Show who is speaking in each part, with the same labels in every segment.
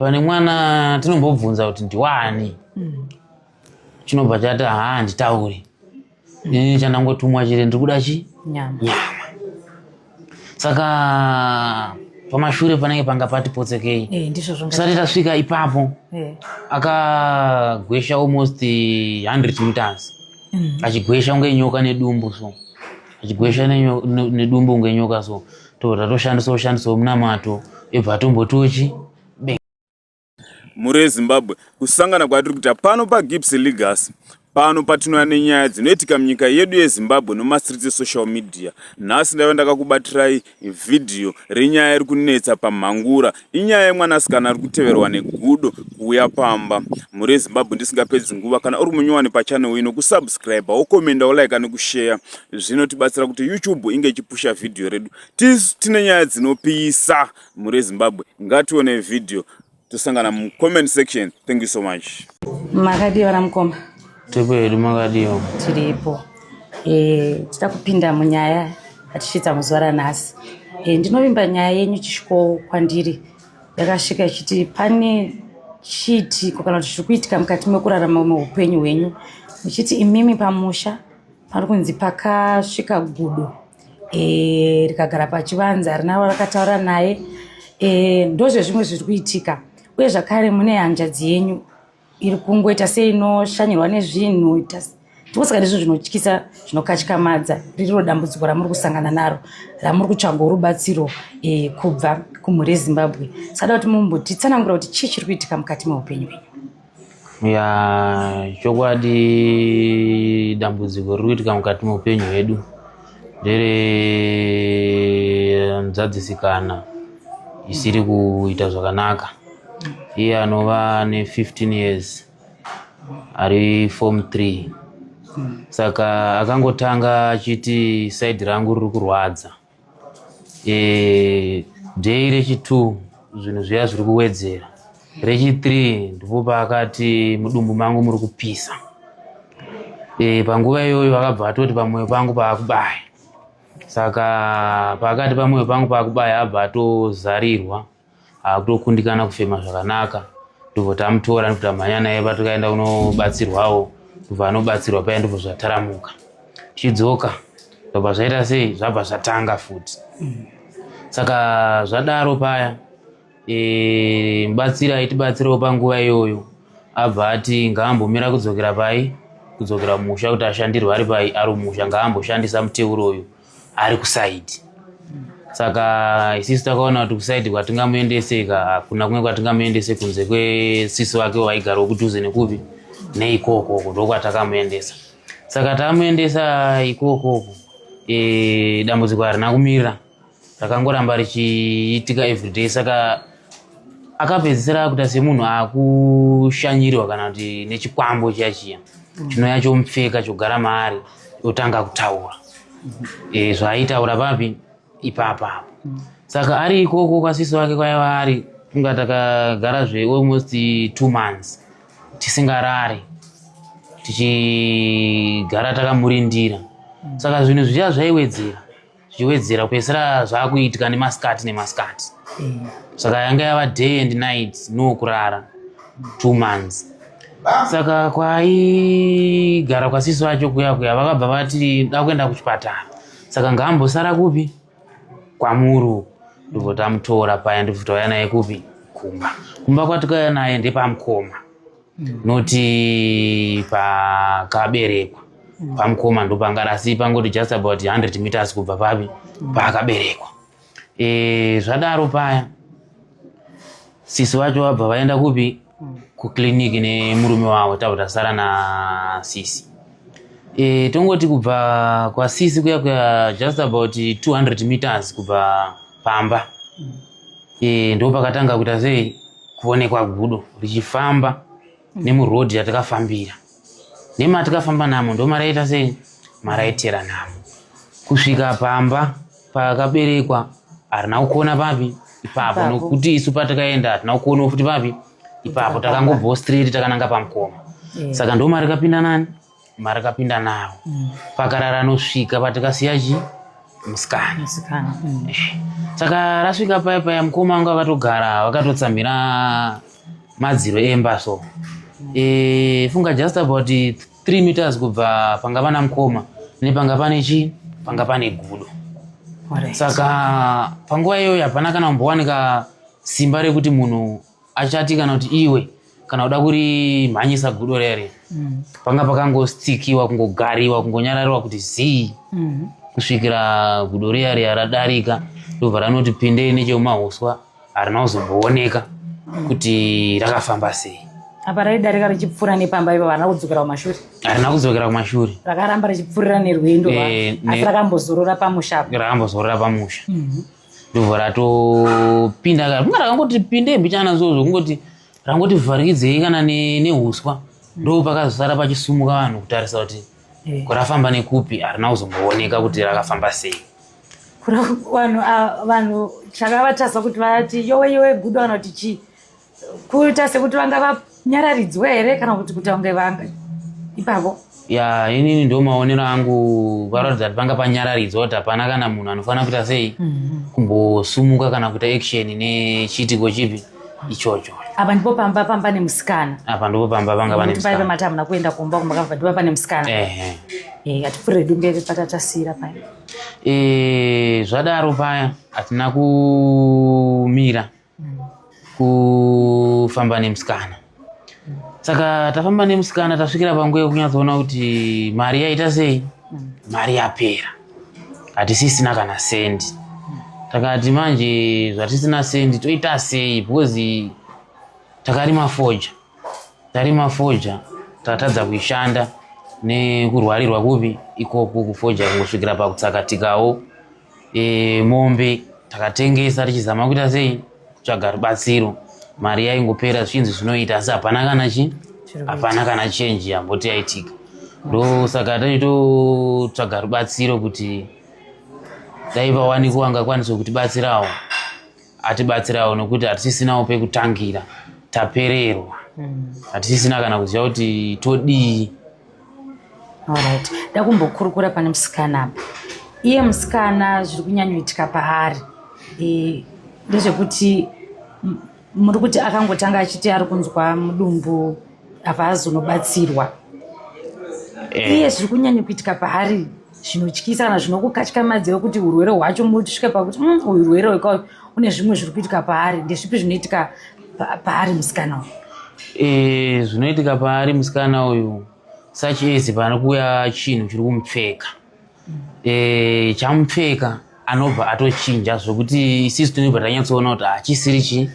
Speaker 1: pane mwana tinombobvunza kuti ndiwani mm. chinobva chati haa handitauri mm. ini chandangotumwa chiri ndiri kuda chi nyama saka pamashure panenge panga pati potsekei eh, tisati tasvika
Speaker 2: ipapo
Speaker 1: eh. akagwesha almost 100 meters mm. achigwesha unge nyoka nedumbu so achigwesha nedumbu unge nyoka so Tora toshandisa ushandisa munamato ibva tombotochi
Speaker 3: mhuri yezimbabwe kusangana kwatiri kuita pano pagips legas pano patinouya nenyaya dzinoitika munyika yedu yezimbabwe nomastreets esocial media nhasi ndaiva ndakakubatirai vhidhiyo renyaya iri kunetsa pamhangura Inyaya yemwanasikana ari kuteverwa negudo kuuya pamba. Mhuri yeZimbabwe ndisingapedzi nguva, kana uri munyowani pachannel ino, kusubscribe, wokomenda, wolaika nekusheya zvinotibatsira kuti YouTube inge ichipusha vhidhiyo redu. Tisu tine nyaya dzinopisa. Mhuri yeZimbabwe ngatione vhidhiyo tosangana mucomment section. Thank you so much. Makadii vana
Speaker 2: mukoma? Tiripo hedu
Speaker 1: makadiwa. Tiripo.
Speaker 2: Eh, tita kupinda munyaya atisvitsa muzuva ranhasi. Eh, ndinovimba nyaya yenyu chisviko kwandiri yakasvika ichiti pane chiitiko kana kuti zviri kuitika mukati mekurarama meupenyu hwenyu muchiti imimi pamusha pari kunzi pakasvika gudo e, rikagara pachivanza rinaro rakataura naye e, ndozvezvimwe zviri kuitika uye zvakare mune hanzvadzi yenyu iri kungoita seinoshanyirwa nezvinhu ndikosaka ndizvo zvinotyisa zvinokatyamadza ririro dambudziko ramuri kusangana naro ramuri kutsvaga rubatsiro e, kubva kumhuri yezimbabwe sada kuti mumbotitsanangura kuti chii chiri kuitika mukati meupenyu wenyu ya chokwadi
Speaker 1: dambudziko riri kuitika mukati meupenyu hwedu ndiri mzadzisikana isiri kuita zvakanaka iye anova ne15 years ari form 3 saka akangotanga achiti saidi rangu riri kurwadza e, day rechitu zvinhu zviya zviri kuwedzera Rechi 3 ndipo paakati mudumbu mangu muri kupisa. E, panguva iyoyo akabva atoti pamwoyo pangu paakubaya. Saka paakati pamwoyo pangu paakubaya abva atozarirwa akutokundikana kufema zvakanaka ndobva tamutora ndobva tamhanya naye patikaenda kunobatsirwawo ndobva anobatsirwa paya ndobva zvataramuka tichidzoka ndobva zvaita sei zvabva zvatanga futi saka zvadaro paya e, batsira itibatsirewo panguva iyoyo abva ati ngaambomira kudzokera pai kudzokera musha kuti ashandirwe ari pai ari musha ngaamboshandisa muteuro uyu ari kusaidi saka isisu takaona kuti kusaidi kwatingamuendese ka hakuna kumwe kwatingamuendese kunze kwesisu vake vaigara wokudhuze nekupi neikokoko ndokwatakamuendesa saka tamuendesa ikokoko e, dambudziko harina kumira rakangoramba richiitika everyday saka akapedzisira akuita semunhu akushanyirirwa kana kuti nechikwambo chiya chiya mm. chinouya chomupfeka chogara maari otanga kutaura e, zvaaitaura papi ipapa apo mm. saka ari ikoko kwasisi wake kwaiva ari kunga takagara zve almost two months tisingarari tichigara takamurindira saka zvinhu zviya zvaiwedzera zvichiwedzera kupedzisira zvakuitika nemasikati nemasikati mm. saka yanga yava day and night no kurara two months saka kwaigara kwasisi vacho kuya kuya vakabva vati dakuenda kuchipatara saka ngaambosara kupi kwamuru ndobva tamutora paya ndobva tauya naye kupi kumba kumba kwatikauya naye ndepamukoma noti pakaberekwa pamukoma ndopangara asi pangoti just about 100 meters kubva papi paakaberekwa e, zvadaro paya sisi vacho vabva vaenda kupi kuclinic nemurume wavo tabva tasara nasisi e, tongoti kubva kwasisi kuya kuya just about 200 meters kubva pamba e, ndo pakatanga kuita sei kuonekwa gudo richifamba mm. nemuroad yatakafambira nematikafamba namo ndo maraita sei maraitera namo kusvika pamba pakaberekwa harina kuona papi ipapo nokuti isu patakaenda hatina kuona futi papi ipapo takangobvawo straight takananga pamukoma eh. saka ndoma rikapinda nani mari kapinda nawo mm. pakarara anosvika patikasiya chi musikana musikana mm. saka rasvika paya paya mukoma wanga vakatogara vakatotsamhira madziro emba so mm. e, funga just about three meters kubva panga pana mukoma nepanga pane chi panga pane gudo saka panguva iyoyo hapana kana kumbowanika simba rekuti munhu achati kana kuti iwe kana kuda kurimhanyisa gudo rere mm. panga pakangostikiwa kungogariwa kungonyarariwa kuti zii mm. kusvikira gudo riya riya radarika ndobva ranoti pindei nechemumahuswa harina kuzombooneka mm. kuti rakafamba sei apa raidarika
Speaker 2: richipfuura nepamba ipo varina kudzokera kumashure harina kudzokera
Speaker 1: kumashure rakaramba richipfuurira
Speaker 2: nerwendo eh, asi rakambozorora pamusha rakambozorora pamusha
Speaker 1: mhm. ndobva ratopinda ka kunga rakangoti pinde mbichana zozvo kungoti rangoti vharikidzei kana ne- neuswa ndo pakazosara pachisumuka vanhu kutarisa kuti Eh. kurafamba nekupi harina kuzombooneka kuti rakafamba sei Kura- vanhu ah,
Speaker 2: vanhu chakavatarisa kuti vati yowe yowe gudo kana kuti chii kuita sekuti vanga vanyararidzwa here kana kuti kuti vange vanga ipapo ya inini
Speaker 1: ndo maonero angu varatidza kuti panga panyararidzwa kuti hapana kana munhu anofanira kuita sei mhm. kumbosumuka kana kuita action nechiitiko chipi ichocho apa ndipo pamba
Speaker 2: pamba nemusikana apa ndipo pamba panga
Speaker 1: pane musikana paive mati hamuna kuenda kumba
Speaker 2: kumba kava ndipo pane musikana ehe eh hatipfure hedu mberi patatasira paya eh zvadaro paya
Speaker 1: hatina kumira kufamba nemusikana saka tafamba nemusikana tasvikira panguva yekunyatsoona kuti mari yaita sei mari yapera hatisisina kana sendi takati manje zvatisina sendi toita sei because takarima foja tarima foja tatadza kuishanda nekurwarirwa kupi ikoko kufoja kungosvikira pakutsakatikawo e, mombe takatengesa tichizama kuita sei kutsvaga rubatsiro mari yaingopera zvinzi zvinoita asi hapana kana chi hapana kana chenji yamboti yaitika ndo saka taitotsvaga rubatsiro kuti dai vawanikwa vangakwanisa kutibatsirawo atibatsirawo nokuti hatisisinawo pekutangira tapererwa hmm. hatisisina mm. kana kuziva kuti todii
Speaker 2: alright ndakumbokurukura pane musikana apa iye musikana zviri kunyanyoitika paari e, ndezvekuti muri kuti akangotanga achiti ari kunzwa mudumbu apa azonobatsirwa e. iye zviri kunyanyokuitika paari e. zvinotyisa kana zvinokukatyamadzira kuti urwere hwacho mosvika pakuti mm, uyu urwere weka une zvimwe zviri kuitika paari ndezvipi zvinoitika paari musikana uyu e, zvinoitika paari
Speaker 1: musikana uyu such as panokuuya chinhu chiri kumupfeka e, chamupfeka anobva atochinja zvekuti isisu tinobva tanyatsoona kuti hachisiri chii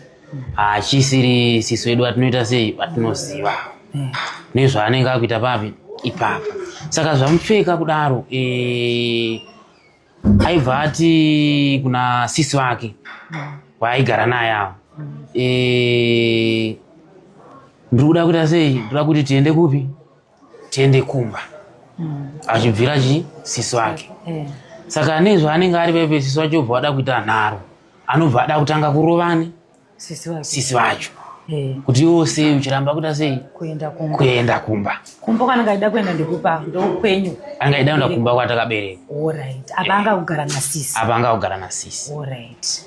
Speaker 1: hachisiri sisu vedu vatinoita sei vatinoziva nezvaanenge akuita papi ipapa saka zvamupfeka kudaro e, aibva ati kuna sisi vake waaigara naye avo e, ndiri kuda kuita sei ndikuda kuti tiende kupi tiende kumba mm. achibvira chi siso ake yeah. saka ane zvaanenge ari pepe siso wacho obva wada kuita nharo anobva ada kutanga kurovani sisi vacho eh. kuti iwo sei uchiramba kuita sei kuenda kumba kumba kwanenge aida kuenda
Speaker 2: ndekupa ndokwenyu anenge aida kuenda kumba
Speaker 1: kwatakabereka apa
Speaker 2: anga kugara nasisi apa anga kugara nasisi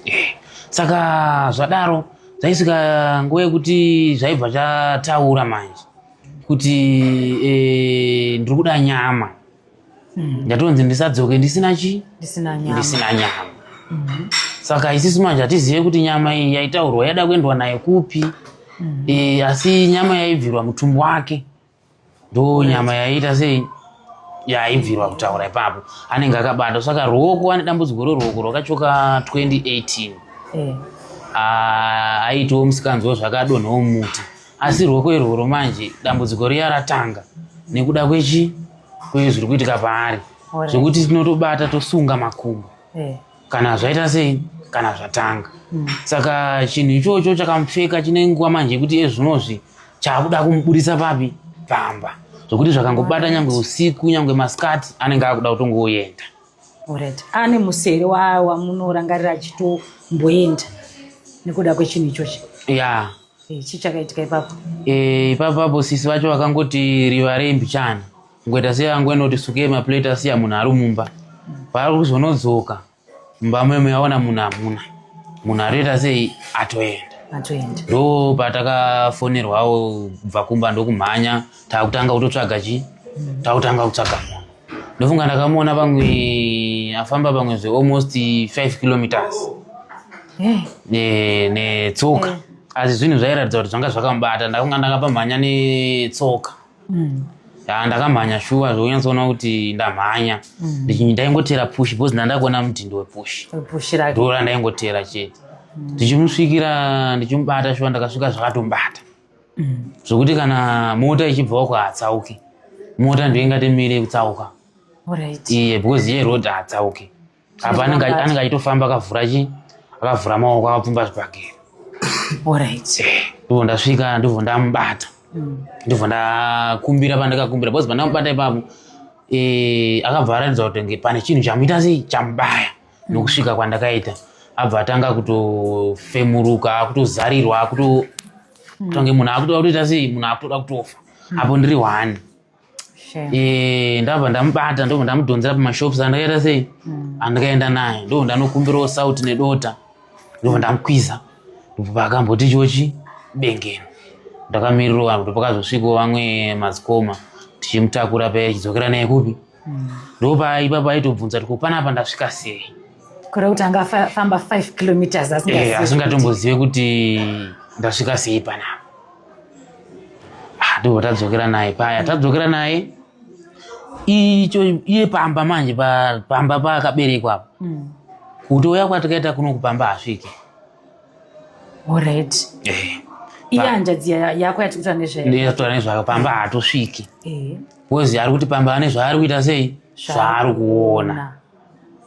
Speaker 1: eh.
Speaker 2: saka
Speaker 1: zvadaro zvaisvika nguva yekuti zvaibva zvataura manje kuti eh, ndiri kuda nyama hmm. ndatonzi ndisadzoke ndisina chi ndisina nyama hmm. saka isisu manje hatizive kuti nyama iyi yaitaurwa yada kuendwa naye kupi hmm. eh, asi nyama yaibvirwa mutumbu wake ndo nyama yaiita sei yaibvirwa kutaura ipapo anenge akabata saka ruoko ane dambudziko roruoko rwakachoka 2018 eh. ah, aitiwo musikanziwo zvakadonhawo muti asi rwoko irworwo manje dambudziko riya ratanga nekuda kwechi kwezviri kuitika paari zvekuti tinotobata tosunga makumbo eh. kana zvaita sei kana zvatanga hmm. saka chinhu ichocho chakamupfeka chine nguva manje yekuti ezvinozvi chaakuda kumuburitsa papi pamba zvokuti zvakangobata nyangwe usiku nyangwe masikati anenge akuda kutongoyenda orit
Speaker 2: ane musere wamunorangarira achitomboenda nekuda kwechinhu ichochi ya yeah. Eh, chii chakaitika ipapo eh, ipapo apo
Speaker 1: sisi vacho vakangoti riva rembichana ngoita sei angoenoti suke maplate asiya munhu ari mumba paari kuzonodzoka mumba memo yaona munhu hamuna munhu atoita sei atoenda
Speaker 2: atoenda ndo
Speaker 1: patakafonerwawo kubva kumba ndokumhanya takutanga kutotsvaga chii takutanga kutsvaga munhu ndofunga ndakamuona pamwe afamba pamwe zve almost 5 kilometers eh. netsoka ne eh. asi zvinhu zvairatidza kuti zvanga zvakamubata ndakunga ndakapamhanya netsoka mm. ya ndakamhanya shuwa zvekunyatsoona kuti ndamhanya mm. ndaingotera push because ndandakuona mutindo wepush ndora ndaingotera chete mm. ndichimusvikira ndichimubata shuwa ndakasvika zvakatombata zvokuti kana mota ichibvawo kuhatsauke mota ndiyo ingatimire kutsauka iye because iye road haatsauke apa anenge achitofamba akavhura chi akavhura maoko akapfumba zvibhagera eh, ndobva ndasvika ndobva ndamubata mm. ndobva ndakumbira pandakakumbira because pandamubata ipapo eh, akabva aratidza kuti nge pane chinhu chamuita sei chamubaya nokusvika kwandakaita abva atanga kutofemuruka akutozarirwa akuto kutange munhu akutoda kutoita sei munhu akutoda kutofa apo ndiri one eh, ndabva ndamubata ndobva ndamudhonzera pamashops andakaita sei hmm. andikaenda naye ndobva ndanokumbirawo saut nedota ndobva ndamukwiza ndobva akamboti chochi bengeno ndakamirirwa kuti pakazosvikawo vamwe madzikoma tichimutakura paya chidzokera naye kupi ndopa ipapa aitobvunza kuti kupana apa ndasvika sei kure kuti anga
Speaker 2: famba 5 kilometers eh, asingatombozive
Speaker 1: kuti ndasvika sei panapa ah, ndoo tadzokera naye paya tadzokera naye icho iye pamba manje pamba paakaberekwa apa hmm. kutouya kwatikaita kuno kupamba asvike Alright.
Speaker 2: Eh. Iya hanzvadzi yako yati kutaura nezvayo. Ndiyo kutaura nezvayo
Speaker 1: pamba haatosviki. Eh. Wozi ari kuti pamba ane zvaari kuita sei? Zvaari kuona.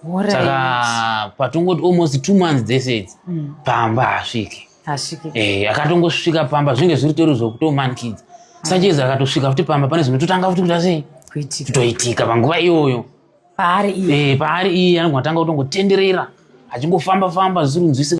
Speaker 1: Alright. Saka patongoti almost two months dzese idzi mm. pamba haasviki. Haasviki. Eh, akatongosvika pamba zvinge zviri tori zvokutomanikidza. Ah. Sanjeza akatosvika futi pamba pane zvinototanga futi kuita sei? Kuitika. Kutoitika panguva iyoyo. Paari iye. Eh, paari iye anogona kutanga kutongotenderera achingofamba famba zvisinzwisika.